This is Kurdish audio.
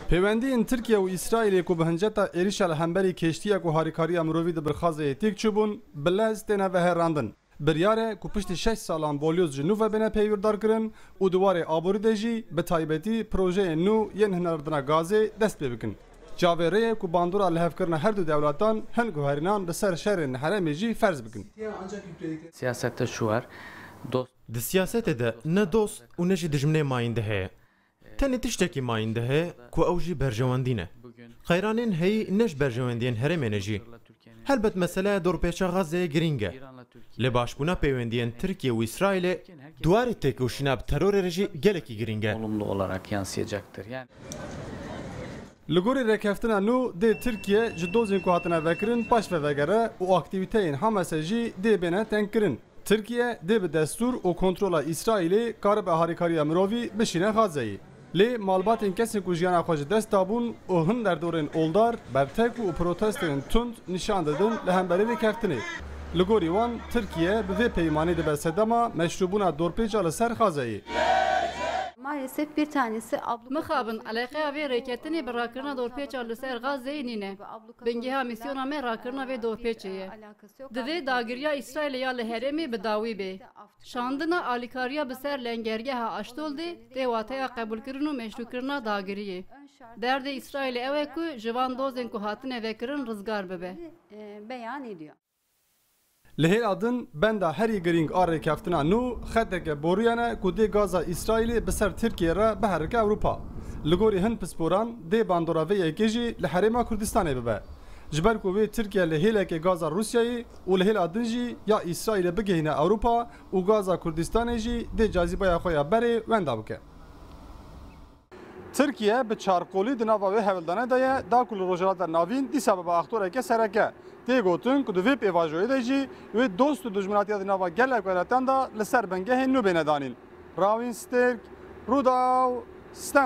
Pêwendiyên Tirkiye û Îsraîlê ku bi hinceta êrîşa li hemberî keştiyek û harîkariya mirovî di birxazeyê têk çûbûn, bi lez têne veherandin. Biryar e ku piştî şeş salan bolyoz ji nû ve bêne peyvîrdarkirin û di warê aborî de jî bi taybetî projeyên nû yên hinardina gazê dest pê bikin. Çavê rê ye ku bandora lihevkirina her du dewletan hin guherînan li ser şerên li herêmê jî ferz bikin. Siyasette çi war? Dost. Di siyasetê de ne dost û ne jî dijminê mayîndê heye. Tenê tiştekî mayîn de heye ku ew jî berjewendî ne. Qeyranên heyî ne ji berjewendiyên herêmê ne jî. Helbet meseleya dorpêça Xazzeyê girîng e. Lê başbûna pêwendiyên Tirkiye û Îsraîlê di warê têkoşîna bi terorê re jî gelekî girîng e. Li gorî rêkeftina nû dê Tirkiye ji dozên ku hatine vekirin paşve vegere û aktîvîteyên Hamase jî dê bêne tengkirin. Tirkiye dê bi destûr û kontrola Îsraîlê karibe harîkariya mirovî bişîne Xazzeyê. Lê malbatên kesên ku jiyana xwe ji dest dabûn û hin derdorên oldar, bertek û protesteyên tund nîşan didin li hemberî vê keftinê. Li gorî wan Tirkiye bi vê peymanê dibe sedema meşrûbûna dorpêça li ser Xazzeyê. Mixabin, eleqeya vê rêketinê bi rakirina dorpêça li ser Xazzeyê nîne. Bingêha mîsyona me rakirina vê dorpêçê ye. Divê dagiriya Îsraîlê ya li herêmê bi dawî bê. Şandina alîkariya bi ser lengergeha Aşdoldê tê wateya qebûlkirin û meşrûkirina dagiriyê. Derdê Îsraîlê ew e ku ji van dozên ku hatine vekirin rizgar bibe. Li hêla din benda herî girîng a rêkeftina nû xeteke boriyên e ku dê gaza Îsraîlê bi ser Tirkiyeyê re biherike Ewropa. Li gorî hin pisporan dê bandora vê yekê jî li herêma Kurdistanê bibe. Ji ber ku vê Tirkiye li hêlekê gaza Rûsyayê û li hêla din jî ya Îsraîlê bigihîne Ewropa û gaza Kurdistanê jî dê cazîbaya xwe ya berê wenda bike. Tirkiye bi çarqolî di nava wê hevildane de ye da ku li Rojhilata Navîn dîsa bibe aktoreke sereke. Tê gotin ku di vê pêvajoyê de jî wê dost û dijminatiya di nava gelek welatan de li ser bingehên nû bêne danîn. Rawîn Stêrk, Rûdaw, Stenbolê.